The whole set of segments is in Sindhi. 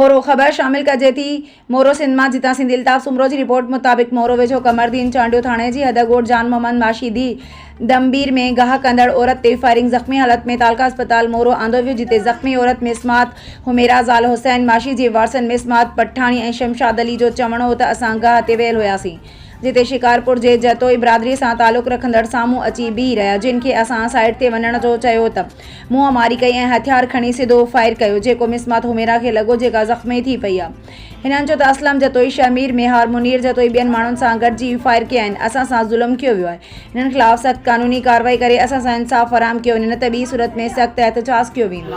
مورو، خبر شامل ڪجي ٿي، مورو سنڌ مان جتان سنڌي الطاف سومرو جي رپورٽ مطابق مورو ويجهو قمر دين چانڊيو ٿاڻي جي حد ڳوٺ جان محمد ماشيدي دمبير ۾ گاهه ڪندڙ عورت تي فائرنگ زخمي حالت ۾ تعلقه اسپتال مورو آندو ويو جتي زخمي عورت مس مات حميرا زال حسين ماشي جي وارثن مس مات پٺاڻي ۽ شمشاد علي جو چوڻ هو ته اسان گاهه تي ويل هياسين جتي شڪارپور جي جتوئي برادري سان تعلق رکندڙ سامهون اچي بيهي رهيا جن کي اسان سائيڊ تي وڃڻ جو چيو ته منهن ماري ڪئي ۽ هٿيار کڻي سڌو فائر ڪيو جيڪو مس مات حميرا کي لڳو جيڪا زخمي ٿي پئي آهي هنن چيو ته اسلم جتوئي شهمير ميهار منير جتوئي ٻين ماڻهن سان گڏجي فائر ڪيا آهن اسان سان ظلم ڪيو ويو آهي هنن خلاف سخت قانوني ڪارروائي ڪري اسان سان انصاف فراهم ڪيو وڃي نه ته ٻي صورت ۾ سخت احتجاج ڪيو ويندو.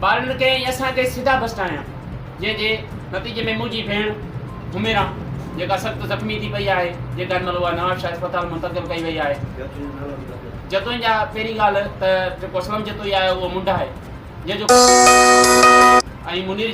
ٻارن ڪئين ۽ اسان ڪئين سڌا بسٽا هنيا، جنهن جي نتيجي ۾ منهنجي ڀيڻ حميرا جيڪا سخت زخمي ٿي پئي آهي، جيڪا هن مهل اها نوابشاهه اسپتال منتقل ڪئي وئي آهي. جتوئين جا پهرين ڳالهه ته جيڪو اسلم جتوئي آهي اهو منڊ آهي، جنهن جو ۽ منير